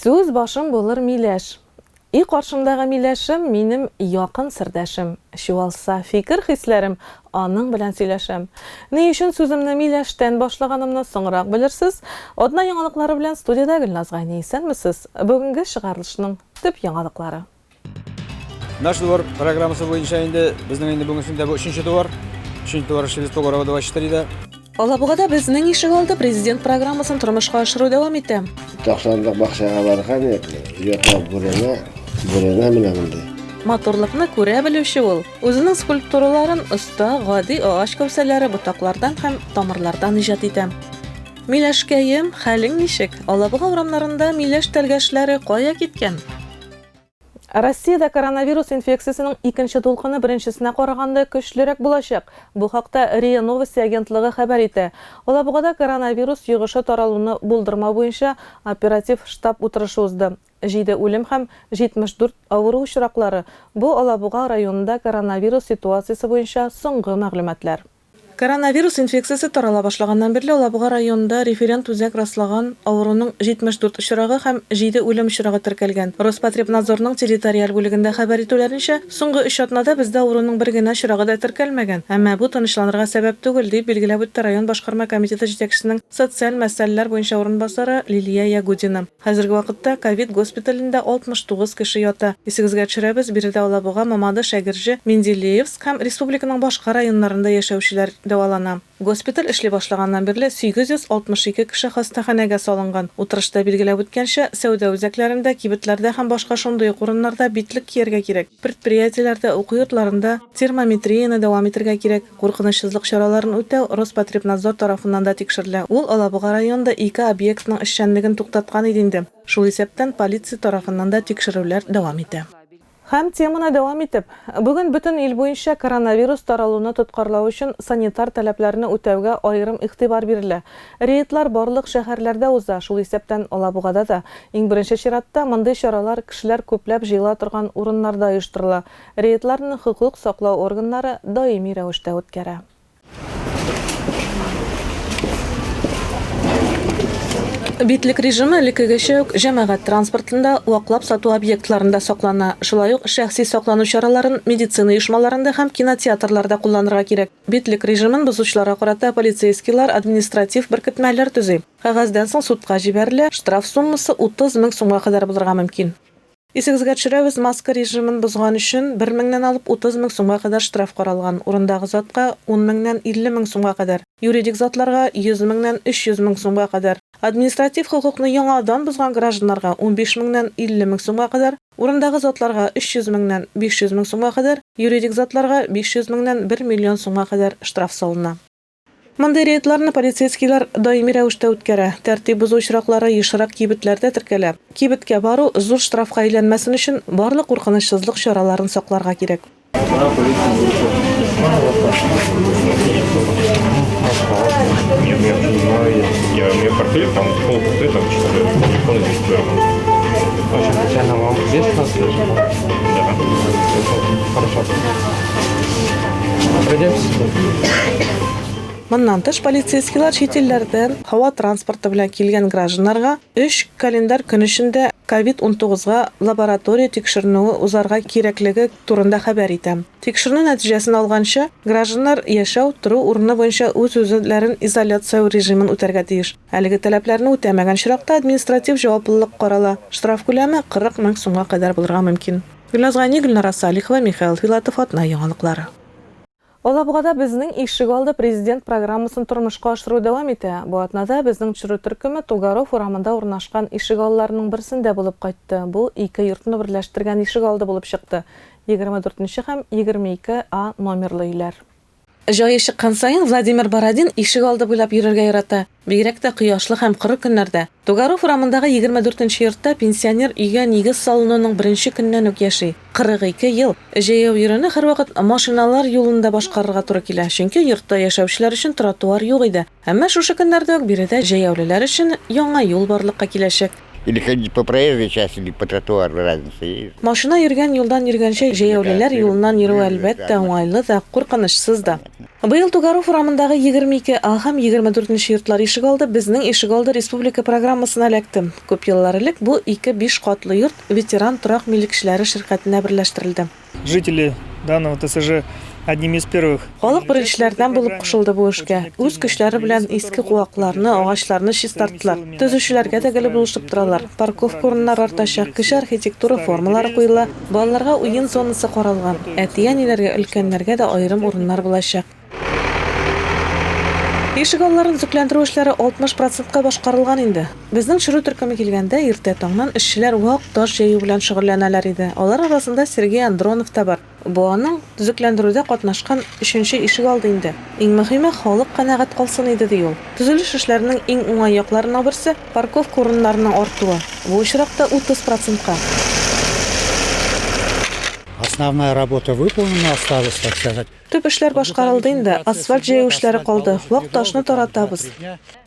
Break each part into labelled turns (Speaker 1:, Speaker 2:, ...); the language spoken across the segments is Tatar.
Speaker 1: Сүз башым булыр миләш. И каршымдагы миләшем, минем якын сердәшем. Чуалса фикер-хисләрем, аның белән сөйләшәм. Ни өчен сүземне миләштән башлаганымны соңрак белерсез. Атна яңалыклары белән студиядә Гөлназ Гайни, исәнмесез! Бүгенге чыгарылышның төп яңалыклары.
Speaker 2: Наш двор программасы буенча инде безнең инде бүгенге көндә бу өченче двор. Өченче двор эшлибез Погорова 24 дә. Алабугада
Speaker 1: безнең ишек алды президент программасын тормышка ашыру дәвам итә. 90 лык бакчага
Speaker 3: барган идек. Йортлар бүрәнә, бүрәнә менә монда. Матурлыкны
Speaker 1: күрә белүче ул. Үзенең скульптураларын оста, гади агач кәүсәләре, ботаклардан һәм тамырлардан иҗат итә. Миләшкәем, хәлең ничек? Алабуга урамнарында миләш тәлгәшләре кая киткән? Россиядә коронавирус инфекциясенең икенче дулкыны беренчесенә караганда көчлерәк булачак. Бу хакта РИА Новости агентлыгы хәбәр итә. Алабугада коронавирус йогышы таралуны булдырмау буенча оператив штаб утырышы узды. Җиде үлем һәм 74 авыру очраклары, бу Алабуга районында коронавирус ситуациясе буенча соңгы мәгълүматлар. Коронавирус инфекциясе тарала башлаганнан бирле Алабуга районында референт үзәк раслаган авыруның 74 очрагы һәм җиде үлем очрагы теркәлгән. Роспотребнадзорның территориаль бүлегендә хәбәр итүләренчә, соңгы өч атнада бездә авыруның бер генә очрагы да теркәлмәгән, әмма бу тынычланырга сәбәп түгел, дип билгеләп үтте район башкарма комитеты җитәкчесенең социаль мәсьәләләр буенча урынбасары Лилия Ягудина. Хәзерге вакытта ковид госпиталендә 69 кеше ята. Исегезгә төшерәбез, биредә Алабуга, Мамадыш, Әгерҗе, Менделеевск һәм республиканың башка районнарында яшәүчеләр дәвалана. Госпиталь эшли башлаганнан бирле 862 кеше хастаханәгә салынган. Утырышта билгеләп үткәнчә, сәүдә үзәкләрендә, кибетләрдә һәм башка шундый ук урыннарда битлек кияргә кирәк, предприятиеләрдә, уку йортларында термометрияне дәвам итергә кирәк. Куркынычсызлык чараларын үтәү Роспотребнадзор тарафыннан да тикшерелә. Ул Алабуга районында ике объектның эшчәнлеген туктаткан иде инде. Шул исәптән полиция тарафыннан да тикшерүләр дәвам итә. Һәм теманы дәвам итеп, бүген бөтен ил буенча коронавирус таралуны тоткарлау өчен санитар таләпләрне үтәүгә аерым игътибар бирелә. Рейдлар барлык шәһәрләрдә уза, шул исәптән Алабугада да. Иң беренче чиратта, мондый чаралар кешеләр күпләп җыела торган урыннарда оештырыла, Рейдларны хокук саклау органнары даими рәвештә үткәрә. Битлек режимы элеккегечә үк җәмәгать транспортында, ваклап сату объектларында саклана. Шулай ук шәхси саклану чараларын медицина оешмаларында һәм кинотеатрларда кулланырга кирәк. Битлек режимын бозучыларга карата полицейскийлар административ беркетмәләр төзи. Кәгазьдән соң судка җибәрелә, штраф суммасы 30 мең сумга кадәр булырга мөмкин. Исегезгә төшерәбез, маска режимын бозган өчен бер меңнән алып утыз мең сумга кадәр штраф каралган, урындагы затка, ун меңнән илле мең сумга кадәр, юридик затларга, йөз меңнән өч йөз мең сумга кадәр, административ хокукны яңадан бозган гражданнарга, унбиш меңнән илле мең сумга кадәр, урындагы затларга, өч йөз меңнән биш йөз мең сумга кадәр, юридик затларга, биш йөз меңнән бер миллион сумга кадәр штраф салына. Мондый рейдларны полицейскийлар даими рәвештә үткәрә. Тәртип бозу очраклары ешрак кибетләрдә теркәлә. Кибеткә бару зур штрафка әйләнмәсен өчен барлык куркынычсызлык чараларын сакларга кирәк.
Speaker 4: Моннан
Speaker 1: тыш полицейскийлар чит илләрдән һава транспорты белән килгән гражданнарга 3 календарь көн эчендә COVID-19га лаборатория тикшеренүе узарга кирәклеге турында хәбәр итә. Тикшеренү нәтиҗәсен алганчы, гражданнар яшәү, тору урыны буенча үз-үзләрен изоляцияләү режимын үтәргә тиеш. Әлеге таләпләрне үтәмәгән очракта административ җаваплылык карала, штраф күләме 40 мең сумга кадәр булырга мөмкин. Гөлназ Гани, Гөлнара Салихова, Михаил Филатов, Атна яңалыклары. Алабугада Безнең ишегалды президент программасын тормышка ашыру дәвам итә. Бу атнада безнең төшерү төркеме Тугаров урамында урнашкан ишегалларының берсендә булып кайтты. Бу ике йортны берләштергән ишегалды булып чыкты, 24 нче һәм 22 А номерлы өйләр. Җае чыккан саен Владимир Бородин ишегалды буйлап йөрергә ярата, бигрәк тә кояшлы һәм коры көннәрдә. Тугаров урамындагы егерме дүртенче йортта пенсионер өйгә нигез салынуның беренче көннән үк яши. Кырык ике ел җәяү йөрүне һәрвакыт машиналар юлында башкарырга туры килә, чөнки йортта яшәүчеләр өчен тротуар юк иде. Әмма шушы көннәрдә үк биредә җәяүлеләр өчен яңа юл барлыкка киләчәк. Или
Speaker 5: ходить по проезжей части, или по тротуару, разница есть? Машина йөргән юлдан
Speaker 1: йөргәнче, җәяүлеләр юлыннан йөрү, әлбәттә, уңайлы да, куркынычсыз да. Быел Тугаров урамындагы 22 А һәм 24 нче йортлар ишегалды Безнең ишегалды республика программасына эләкте. Күп еллар элек бу ике биш катлы йорт Ветеран торак милекчеләре ширкәтенә берләштерелде. Жители
Speaker 6: данного ТСЖ одними из первых. Халык беренчеләрдән
Speaker 1: булып кушылды бу эшкә. Үз көчләре белән иске куакларны, агачларны чистарттылар. Төзүчеләргә дә гел булышып торалар. Парковка урыннары артачак, кече архитектура формалары куела, балаларга уен зонасы каралган. Әти-әниләргә, өлкәннәргә дә аерым урыннар булачак. Ишек алларын төзекләндерү эшләре 60 процентка башкарылган инде. Безнең чоры төркеме килгәндә, иртә таңнан эшчеләр вак таш җәю белән шөгыльләнәләр иде. Алар арасында Сергей Андронов та бар. Бу аның төзекләндерүдә катнашкан өченче ишек алды инде. Иң мөһиме, халык канәгать калсын иде, ди ул. Төзелеш эшләренең иң уңай якларының берсе, парковка урыннарының артуы. Бу очракта 30 процентка.
Speaker 7: Основная работа выполнена, осталось, так сказать. Төп эшләр башкарылды
Speaker 1: инде, асфальт җәю эшләре калды, вак ташны таратабыз.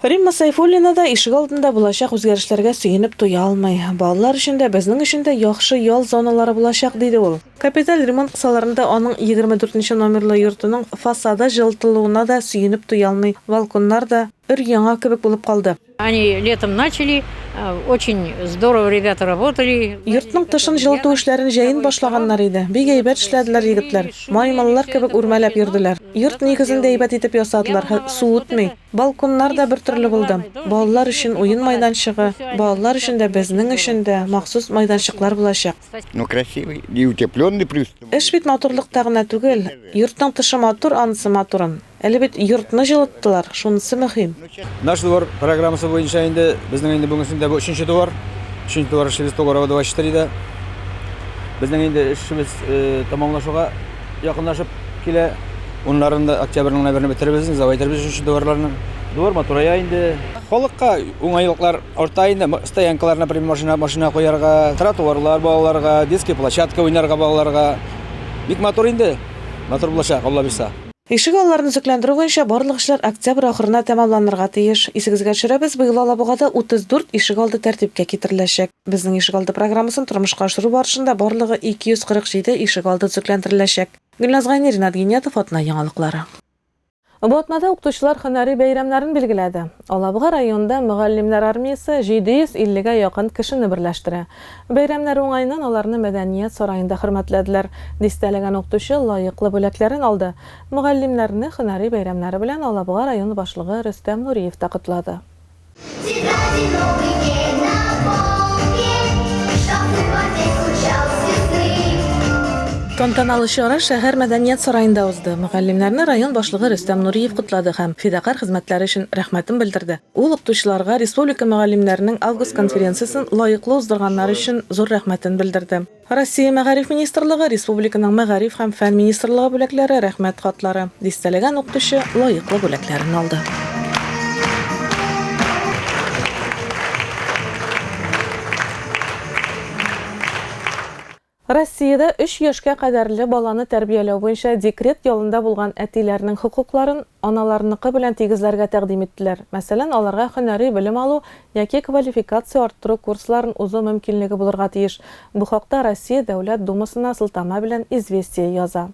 Speaker 1: Римма Сайфуллина да ишегалдында булачак үзгәрешләргә сөенеп туя алмый. Балалар өчен дә, безнең өчен дә яхшы ял зоналары булачак, диде ул. Капиталь ремонт кысаларында аның егерме дүртенче номерлы йортының фасады җылытылуына да сөенеп туя алмый, балконнар да өр-яңа кебек булып калды. Они летом
Speaker 8: начали, очень здорово ребята работали. Йортның тышын җылыту
Speaker 1: эшләрен җәен башлаганнар иде. Бик әйбәт эшләделәр егетләр. Маймыллар кебек үрмәләп йөрделәр. Йорт нигезен дә әйбәт итеп ясадылар һэ су үтми. Балконнар да бертөрле булды. Балалар өчен уен майданчыгы, балалар өчен дә, безнең өчен дә махсус майданчыклар булачак. Ну красивый,
Speaker 5: и утепленный плюс. Эш бит матурлыкта
Speaker 1: гына түгел. Йортның тышы матур, анысы матурын. Әле бит йортны җылыттылар, шунысы мөһим. Наш двор
Speaker 2: программасы буенча инде безнең инде бүгенге көндә бу өченче двор. Өченче двор эшебез Погорова 24 дә. Безнең инде эшебез э, тәмамлашуга якынлашып килә. Уннарын да октябрьнең гына берне бетеребез, завайтербез өченче дворларны. Двор матурая инде. Халыкка уңайлыклар Орта инде стоянкалар, например, машина, машина куярга, тротуарлар балаларга, детский площадка уйнарга балаларга. Бик матур инде. Матур булачак, Алла бирса. Ишек алларын өзекләндерү
Speaker 1: буенча барлык эшләр октябрь ахырына тәмамланырга тиеш. Исегезгә төшерәбез, быел Алабугада 34 ишегалды тәртипкә китереләчәк. Безнең ишегалды программасын тормышка ашыру барышында барлыгы 247 ишегалды төзекләндереләчәк. Гөлназ Гайнерина, Ринат Гыйниятов, Атна яңалыклары. Бу атнада укытучылар һөнәри бәйрәмнәрен билгеләде. Алабуга районында мөгаллимнәр армиясе 750 гә якын кешене берләштерә. Бәйрәмнәр уңаеннан аларны мәдәният сараенда хөрмәтләделәр. Дистәләгән укытучы лаеклы бүләкләрен алды. Мөгаллимнәрне һөнәри бәйрәмнәре белән Алабуга районы башлыгы Рөстәм Нуриев та котлады. Тантаналы чара шәһәр мәдәният сараенда узды. Мөгаллимнәрне район башлыгы Рөстәм Нуриев котлады һәм фидакарь хезмәтләре өчен рәхмәтен белдерде. Ул укытучыларга республика мөгаллимнәренең август конференциясен лаеклы уздырганнары өчен зур рәхмәтен белдерде. Россия Мәгариф министрлыгы, республиканың Мәгариф һәм фән министрлыгы бүләкләре, Рәхмәт хатлары, дистәләгән укытучы лаеклы бүләкләрен алды. Россиядә өч яшькә кадәрле баланы тәрбияләү буенча декрет ялында булган әтиләрнең хокукларын, аналарыныкы белән тигезләргә тәкъдим иттеләр, мәсәлән, аларга һөнәри белем алу яки квалификация арттыру курсларын узу мөмкинлеге булырга тиеш. Бу хакта Россия Дәүләт Думасына сылтама белән Известия яза.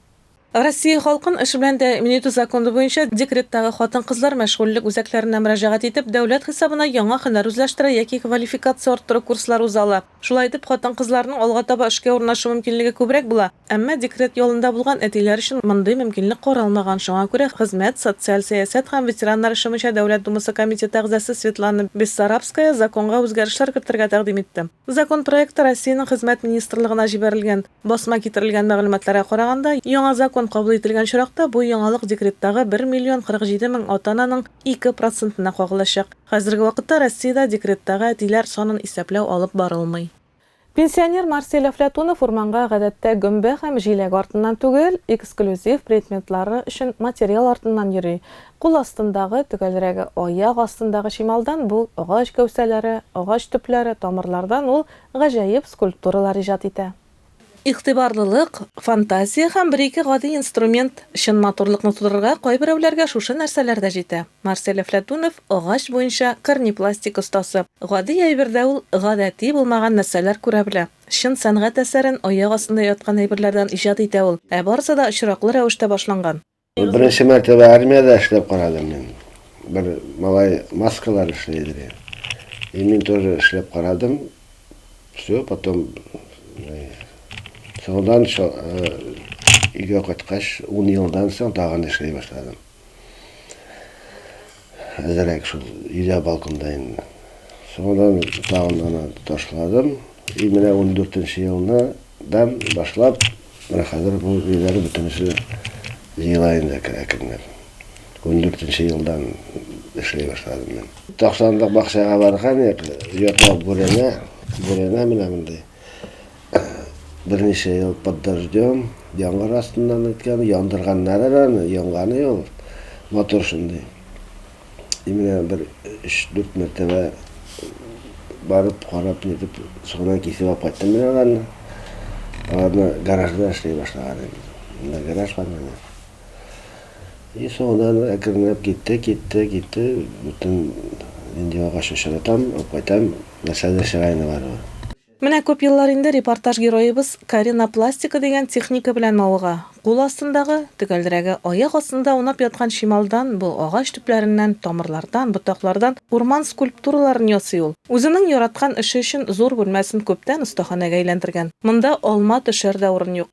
Speaker 1: Россия халкын эш белән тәэмин итү законы буенча декреттагы хатын-кызлар мәшгульлек үзәкләренә мөрәҗәгать итеп, дәүләт хисабына яңа һөнәр үзләштерә яки квалификация арттыру курслары уза ала. Шулай итеп, хатын-кызларның алга таба эшкә урнашу мөмкинлеге күбрәк була. Әмма декрет ялында булган әтиләр өчен мондый мөмкинлек каралмаган. Шуңа күрә Хезмәт, социаль сәясәт һәм ветераннар эше буенча Дәүләт Думасы комитеты әгъзасы Светлана Бессарабская законга үзгәрешләр кертергә тәкъдим итте. Закон проекты Россиянең Хезмәт министрлыгына җибәрелгән. Басма китерелгән мәгълүматларга караганда, яңа закон кабул ителгән очракта, бу яңалык декреттагы бер миллион 47 мең ата-ананың ике процентына кагылачак. Хәзерге вакытта Россиядә декреттагы әтиләр санын исәпләү алып барылмый. Пенсионер Марсель Әфләтунов урманга гадәттә гөмбә һәм җиләк артыннан түгел, эксклюзив предметлары өчен материал артыннан йөри. Кул астындагы, төгәлрәге, аяк астындагы чималдан бу агач гәүсәләре, агач төпләре, тамырлардан ул гаҗәеп скульптуралар иҗат итә. Игътибарлылык, фантазия һәм бер-ике гади инструмент чын матурлыкны тудырырга кайберәүләргә шушы нәрсәләр дә җитә. Марсель Әфләтунов, агач буенча корнепластик остасы. Гади әйбердә ул гадәти булмаган нәрсәләр күрә белә. Чын сәнгать әсәрен аяк астында яткан әйберләрдән иҗат итә ул, ә барысы да очраклы рәвештә башланган. Беренче мәртәбә
Speaker 3: армиядә эшләп карадым мин. Бер малай маскалар эшли иде. И мин тоже эшләп карадым. Все, потом э, соңдан э, өйгә кайткач, 10 елдан соң тагын эшли башладым. Әзрәк шул өйдә балконда инде. Соңыннан тагын да аны ташладым. И менә ундүртенче елны дан башлап, менә хәзер бу өйләр бөтенесе җыела инде әкренләп. Ундүртенче елдан эшли башладым мин. Ташландык бакчага барган идек, йота бүрәнә, бүрәнә менә мондый. Берничә ел под дождем, яңгыр астыннан үткән, яндырганнар әле аны, янганы ул. Мотор шундый. И менә бер өч-дүрт мәртәбә барып, карап, нитеп, соңыннан кисеп алып кайттым мин аларны. Аларны гаражда эшли башлаган инде. Монда гараж бар менә. И соңыннан әкренләп китте, китте, китте, бөтен нинди агач очратам, алып кайтам, нәрсәдер чыраена бары бер. Менә күп
Speaker 1: еллар инде репортаж героебыз Карина пластика дигән техника белән мавыга, кул астындагы, төгәлрәге, аяк астында аунап яткан чималдан бу агач төпләреннән, тамырлардан, ботаклардан урман скульптураларын ясый ул. Үзенең яраткан эше өчен зур бүлмәсен күптән остаханәгә әйләндергән. Монда алма төшәр дә урын юк.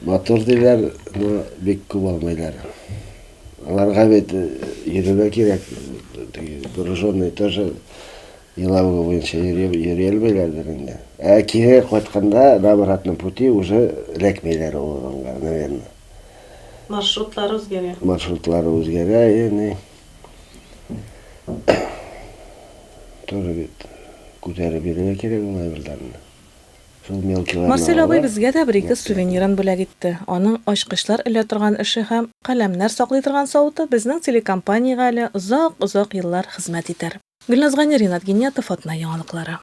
Speaker 1: Матур
Speaker 3: диләр, но бик күп алмыйлар. Аларга бит йөрергә кирәк, теге груженный тоже Елабуга буенча йөри алмыйлардыр инде. Ә кире кайтканда на обратном пути уже эләкмиләр ул урынга, наверное.
Speaker 1: Маршрутлары үзгәрә.
Speaker 3: Маршрутлары үзгәрә, ени. Тоже бит күтәреп йөрергә кирәк ул әйберләрне. Шул мелкиларны алып. Марсель абый безгә дә
Speaker 1: бер-ике сувенирын бүләк итте. Аның ачкычлар элә торган эше һәм каләмнәр саклый торган савыты безнең телекомпаниягә әле озак-озак еллар хезмәт итәр. Гөлназ Гани, Ринат Гиниятов, Атна яңалыклары.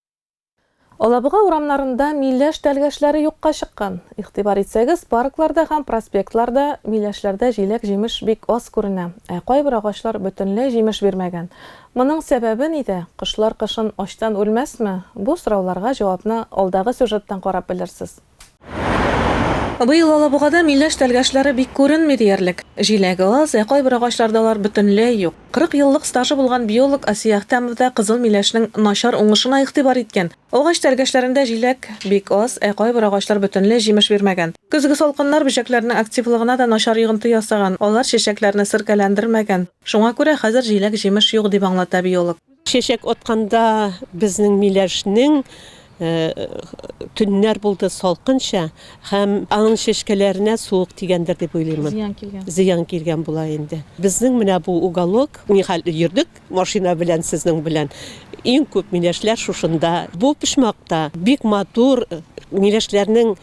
Speaker 1: Алабуга урамнарында миләш тәлгәшләре юкка чыккан. Игътибар итсәгез, паркларда һәм проспектларда миләшләрдә җиләк-җимеш бик аз күренә, ә кайбер агачлар бөтенләй җимеш бирмәгән. Моның сәбәбе нидә? Кошлар кышын ачтан үлмәсме? Бу сорауларга җавапны алдагы сюжеттан карап белерсез. Быел Алабугада миләш тәлгәшләре бик күренми диярлек. Җиләге аз, ә кайбер агачларда алар бөтенләй юк. 40 еллык стажы булган биолог Асия Әхтәмов да кызыл миләшнең начар уңышына игътибар иткән. Агач тәлгәшләрендә җиләк бик аз, ә кайбер агачлар бөтенләй җимеш бирмәгән. Көзге салкыннар бөҗәкләрнең активлыгына да начар йогынты ясаган, алар чәчәкләрне серкәләндермәгән. Шуңа күрә хәзер җиләк-җимеш юк, дип аңлата биолог. Чәчәк атканда
Speaker 9: безнең миләшнең төннәр булды салкынча һәм аның чәчкәләренә суык тигәндер дип уйлыйм. Зыян килгән. Зыян килгән була инде. Безнең менә бу уголок, нихәл йөрдек машина белән сезнең белән, иң күп миләшләр шушында. Бу почмакта бик матур миләшләрнең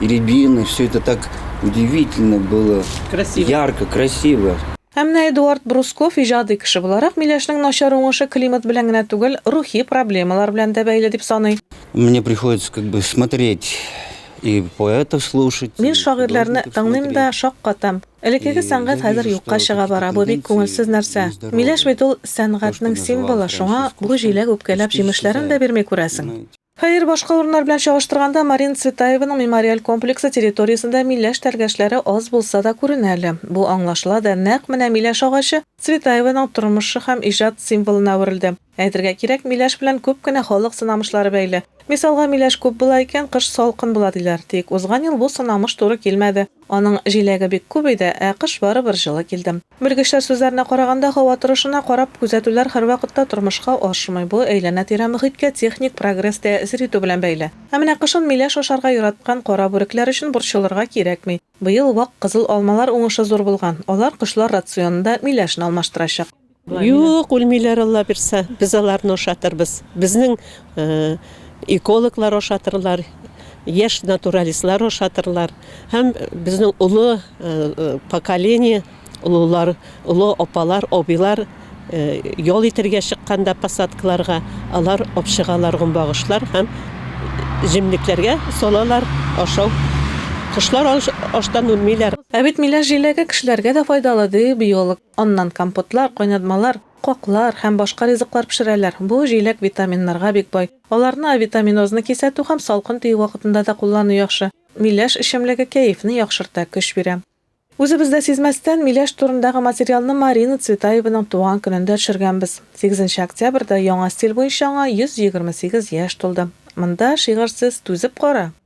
Speaker 10: И рябины, все это так удивительно было. Красиво. Ярко,
Speaker 9: красиво.
Speaker 10: Ә менә Эдуард
Speaker 1: Брусков иҗади кеше буларак Миләшнең начар уңышы климат белән генә түгел, рухи проблемалар белән дә бәйле дип саный. Мне приходится
Speaker 10: как бы смотреть и поэтов слушать. Мин шагыйрьләрне
Speaker 1: тыңлыйм да шаккатам. Элеккеге сәнгать хәзер юкка чыга бара, бу бик күңелсез нәрсә. Миләш бит ул сәнгатьнең символы, шуңа бу җиләк үпкәләп җимешләрен дә бирми күрәсең. Хәер, башка урыннар белән чагыштырганда Марина Цветаеваның мемориаль комплексы территориясендә миләш тәргәшләре аз булса да күренә әле. Бу аңлашыла да, нәкъ менә миләш агачы Цветаеваның тормышы һәм иҗат символына әверелде. Әйтергә кирәк, миләш белән күп кенә халык сынамышлары бәйле. Мисалга, миләш күп була икән, кыш салкын була, диләр. Тик узган ел бу сынамыш туры килмәде. Аның җиләге бик күп иде, ә кыш барыбер җылы килде. Белгечләр сүзләренә караганда, һава торышына карап, күзәтүләр һәрвакытта тормышка ашмый, бу әйләнә-тирә мөхиткә техник прогресс тәэсир итү белән бәйле. Ә менә кышын миләш ашарга яраткан кара бүрекләр өчен борчылырга кирәкми. Быел вак кызыл алмалар уңышы зур булган, алар кошлар рационында миләшне алмаштырачак. Юк,
Speaker 9: үлмиләр Алла бирса, без аларны ашатырбыз. Безнең экологлар ашатырлар, яшь натуралистлар ашатырлар һәм безнең олы поколение, олылар, олы апалар, абыйлар ял итәргә чыкканда посадкаларга алар апчыгалар гөмбагышлар һәм җемлекләргә салалар ашау. Кошлар ач, ачтан үлмиләр. Ә бит миләш җиләге
Speaker 1: кешеләргә дә файдалы, ди биолог. Аннан компотлар, кайнатмалар, каклар һәм башка ризыклар пешерәләр. Бу җиләк витаминнарга бик бай. Аларны авитаминозны кисәтү һәм салкын тию вакытында да куллану яхшы. Миләш эчемлеге кәефне яхшырта, көч бирә. Үзебез дә сизмәстән миләш турындагы материалны Марина Цветаеваның туган көнендә төшергәнбез. Сигезенче октябрьдә яңа стиль буенча аңа 128 яшь тулды. Монда шигырьсез түзеп кара!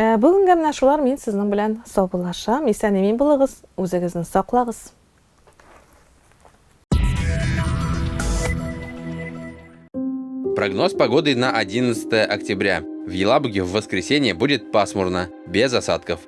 Speaker 1: Ә бүгенгә менә шулар мин сезнең белән саубуллашам, исән имин булыгыз, үзегезне саклагыз.
Speaker 11: Прогноз погоды на 11 октября. В Елабуге в воскресенье будет пасмурно, без осадков.